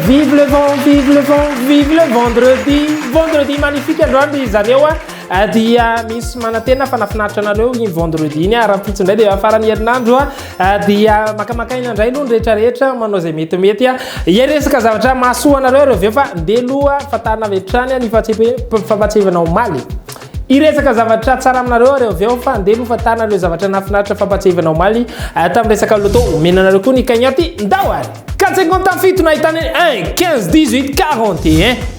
vive le vent vive le vent vive le vendredi vendredi magnifique androany ry zareo a ah, dia misy manantena fa nafinaritra anareo iny vendredi iny a ah, raha pitsy indray dia afaran'ny herinandro a ah. Ah, dia makamaka aina indray aloha ny rehetrarehetra manao izay metimety a ia resaka zavatra mahasoa anareo ireo aveo fa ndeha loha fatana avy hatrany ny fampatsiahivana omaly iresaka zavatra tsara aminareo areo avy eo fa ndeha loha fatana ireo zavatra nafinaritra fampatsiahivana omaly ah, tamin'ny resaka loto omena anareo koa ny kaignaty ndao ary 450 fito nahitana 1 15 18 41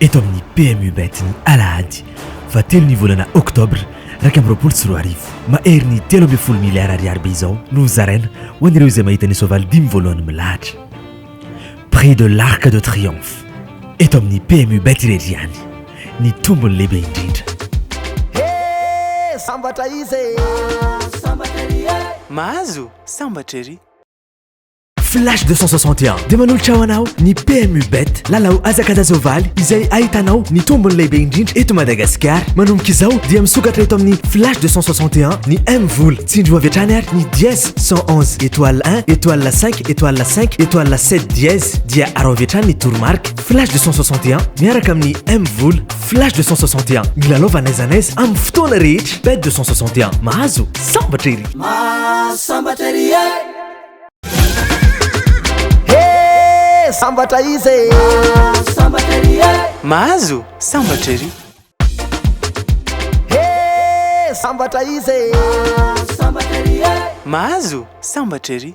eto amin'ny PMU Bet ny alahady faha telo ny volana oktobra iraika amby roapolo sy roa arivo. Maherin'ny telo ambin'ny folo miliara ariary be izao no hozaraina ho an'ireo izay mahita ny soavaly dimy voalohany milahatra prix de l'arc de triomphe eto amin'ny PMU Bet irery ihany ny tombony lehibe indrindra. Hee sambatra izy e! Mahazo sambatra ery. Flash 261 dia manolotra ho anao ny PMU Bet lalao azakadazovaly izay ahitanao ny tombony lehibe indrindra eto Madagasikara. Manomboka izao dia misokatra eto amin'ny Flash 261 ny M vola. Tsindrio avy hatrany ary ny dièse 111 étoile 1 étoile 5 étoile 5 étoile 7 dièse dia arao avy hatrany ny toromarika. Flash 261 miaraka amin'ny M vola. Flash 261 milalova n'aiza n'aiza amin'ny fotoana rehetra. Bet 261 mahazo sambatra ery. Mahazo sambatra ery. Sambatra izy e Sambatra ery e Mahazo sambatra ery He sambatra izy e Sambatra ery e Mahazo sambatra ery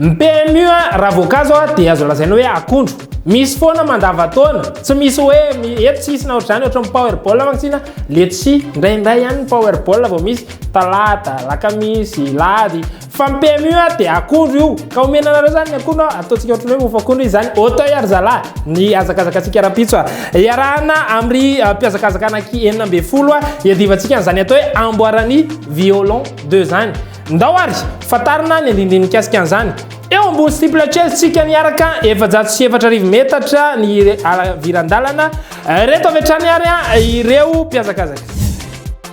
Ny PMU raha voankazo dia azo lazaina hoe akondro. Misy foana mandavan-taona, tsy misy hoe eto tsisy na ohatr'izany ohatran'ny powerball mantsina letchis, indraindray ihany ny powerball vao misy. Talata, alakamisy, lahady, fa ny PMU a dia akondro io, ka omena anareo zany ny akondro a, ataontsika ohatran'ny hoe mofo akondro izy zany, auteuil ry zalahy, ny hazakazakatsika rahampitso a, iarahana am ry mpihazakazaka anaky enina ambin'ny folo a, iadivantsika an'izany atao hoe amboaran'ny violon deux zany. Ndao ary, fantarina ny andinindiny mikasika an'izany. Eo ambony steeple chase tsika niaraka, efajato sy efatra arivo metatra ny halaviran-dalana, ireto avy hatrany ary a ireo mpihazakazaka.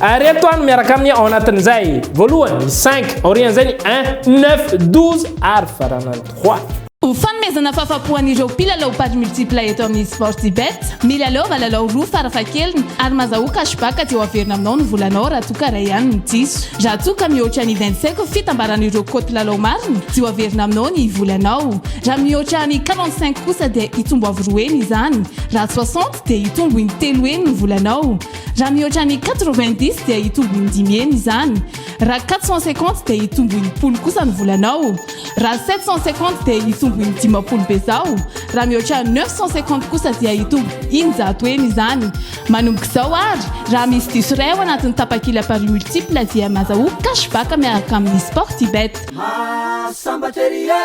Ireto aho no miaraka aminy ao anatin'izay, voalohany ny cinq, aorian'izay ny un, neuf, douze ary faranany trois. Ho fanomezana fahafapo an'ireo mpilalao paris multiple eto amin'ny Sportybet, milalaova lalao roa farafahakeliny ary mazahoa cashback aty ho averina aminao ny volanao raha toa ka iray ihany no diso. Raha toa ka mihoatra ny vingt-cinq fitambaran'ireo cote lalao marina dia ho averina aminao ny volanao. Raha mihoatra ny quarante-cinq kosa dia hitombo avo roa heny izany. Raha soixante dia hitombo in-telo heny ny volanao. Raha mihoatra ny quatre-vingt-dix dia hitombo in-dimy heny izany. Raha quatre cent cinquante dia hitombo in-polo kosa ny volanao. Raha sept cent cinquante dia hitombo in-dimampolo bezao. Raha mihoatra neuf cent cinquante kosa dia hitombo in-jato heny izany. Manomboka izao ary, raha misy diso iray ao anatin'ny tapakila paris multiple dia mazahoa cash back miaraka amin'ny Sportybet. Mahasambatr ery e!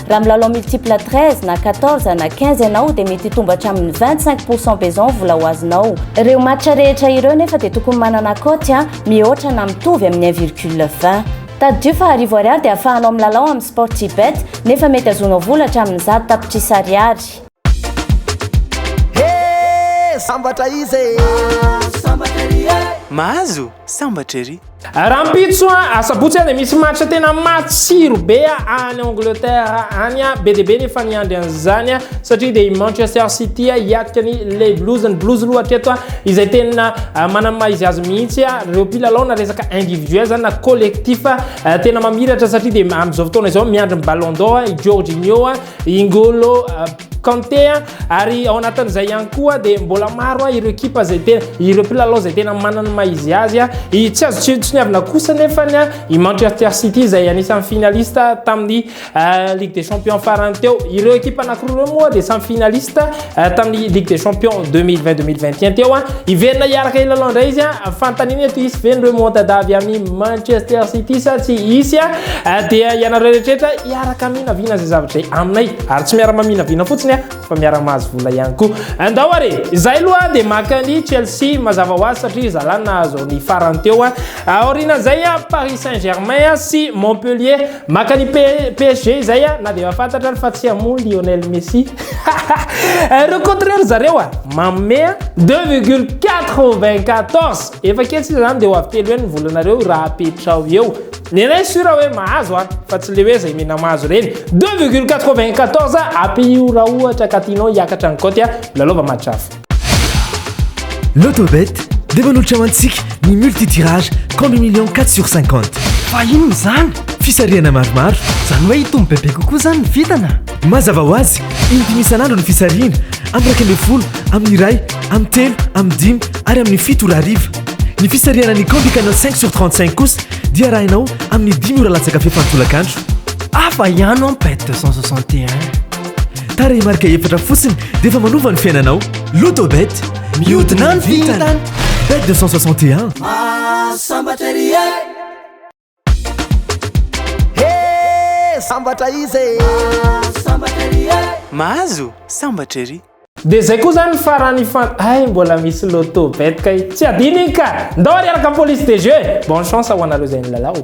Raha milalao multiple 13 na 14 na 15 ianao dia mety hitombo hatramin'ny 25 pourcent besoin vola ho azonao. Ireo match rehetra ireo nefa dia tokony manana cote a mihoatra na mitovy amin'ny 1 virgule 20. Tadidio fa arivo ariary dia afahanao milalao amin'ny Sportybet nefa mety azonao vola hatramin'ny zato tapitrisa ariary. Sambatra izy e! Sambatra ery e! Mahazo sambatra ery! Rahampitso asabotsy dia misy match tena matsiro be any Angleterre any be dia be ny efa niandry an'izany satria dia i Manchester City hiatrika ny Les Blues ny Blues aloha hatreto izay tena manana maha izy azy mihitsy ireo mpilalao na resaka individuel zany na collectif tena mamiratra satria dia amin'izao fotoana izao miandry ny Ballon d'Or i Jorginho i N'Golo Kanté ary ao anatin'izay ihany koa dia mbola maro ireo ekipa izay tena ireo mpilalao izay tena manana ny maha-izy azy tsy azo tsiniavina kosa nefa ny i Manchester City izay anisan'ny finaliste tamin'ny euh, Ligue des Champions farany teo ireo ekipa anankiroa ireo moa dia samy finaliste Eh, tamin'ny Ligue des Champions 2020-2021 teo an, ah. hiverina hiaraka hilalao indray izy an, ah. fanontaniana eto hisy ve ny remontada avy amin'ny Manchester City sa tsy hisy an, ah. eh, dia ianareo rehetra hiaraka minavina izay zavatra aminay ary tsy miarama minavina fotsiny an, fa miaraka mahazo vola ihany koa. Andao ary, izay loha dia maka ny Chelsea mazava ho azy satria zalana nahazo ny farany teo an. Aoriana izay an, Paris Saint-Germain sy Montpellier Maka ny PSG izay a, na dia efa fantatra ary fa tsy hamono Lionel Messi. Ireo contre ry zareo a, manome a. 2,94 efa ketsy izany dia ho avy telo heny ny volanareo raha apetraho eo. Ny anay sûr hoe mahazo a, fa tsy le hoe izay mena mahazo ireny. 2,94 apio raha ohatra ka tianao hiakatra ny cote a, lalaova match hafa. Lotobet dia manolotra ho antsika ny multi-tirage compte million quatre sur cinquante. Fa inona izany? Fisarihana maromaro. Izany hoe hitombo bebe kokoa izany ny vintana? Mazava ho azy, in-dimy isan'andro ny fisarihana, amin'ny iraika ambin'ny folo, amin'ny iray, amin'ny telo, amin'ny dimy ary amin'ny fito ora hariva. Ny fisarihana ny Combi Canal cinq sur trente cinq kosa dia arahinao amin'ny dimy ora latsaka fepany tolakandro. Hafa ihany an bet deux cent soixante et un. Tarehimarika efatra fotsiny dia efa manova ny fiainanao. Lotobet, mihodina ny vintana. Bet 261. Sambatra ery e. He, sambatra izy e. Sambatra ery e. Mahazo, sambatra ery. Dia zay koa zany farany ifan Hay mbola misy loto bet kay Tsy adino iny ka Ndao ary araka police des jeux Bonne chance ho anareo zay nilalao.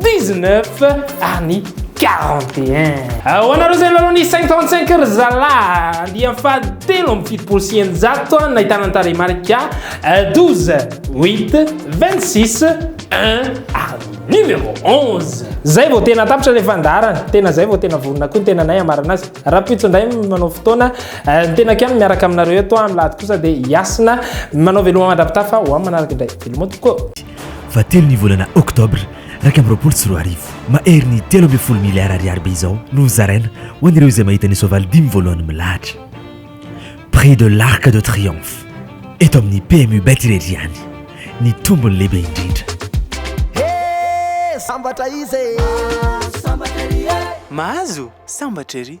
19 ary ny 41. Ho anareo izay lalao ny 55 ry zalahy, andiany fahatelo amby fitopolo sy eninjato no ahitana ny tarehimarika 12, 8, 26, 1 ary numéro 11. Zay vao tena tapitra le fandaharana, tena zay vao tena vorona koa ny tenanay hamarana azy. Rahampitso indray no manao fotoana, eh, ny tenako ihany miaraka aminareo eto amin'ny lahady kosa dia Yasina manao veloma mandra-pitafa ho amin'ny manaraka indray. Veloma tokoa. Fahatelo ny volana oktobra iraika amby roapolo sy roa arivo. Mahery ny telo ambin'ny folo miliara ariary be izao no hozaraina ho an'ireo izay mahita ny soavaly dimy voalohany milahatra prix de l'Arc de Triomphe eto amin'ny PMU Bet irery ihany ny tombony lehibe indrindra. He! Sambatra iza e! Mahazo sambatra ery!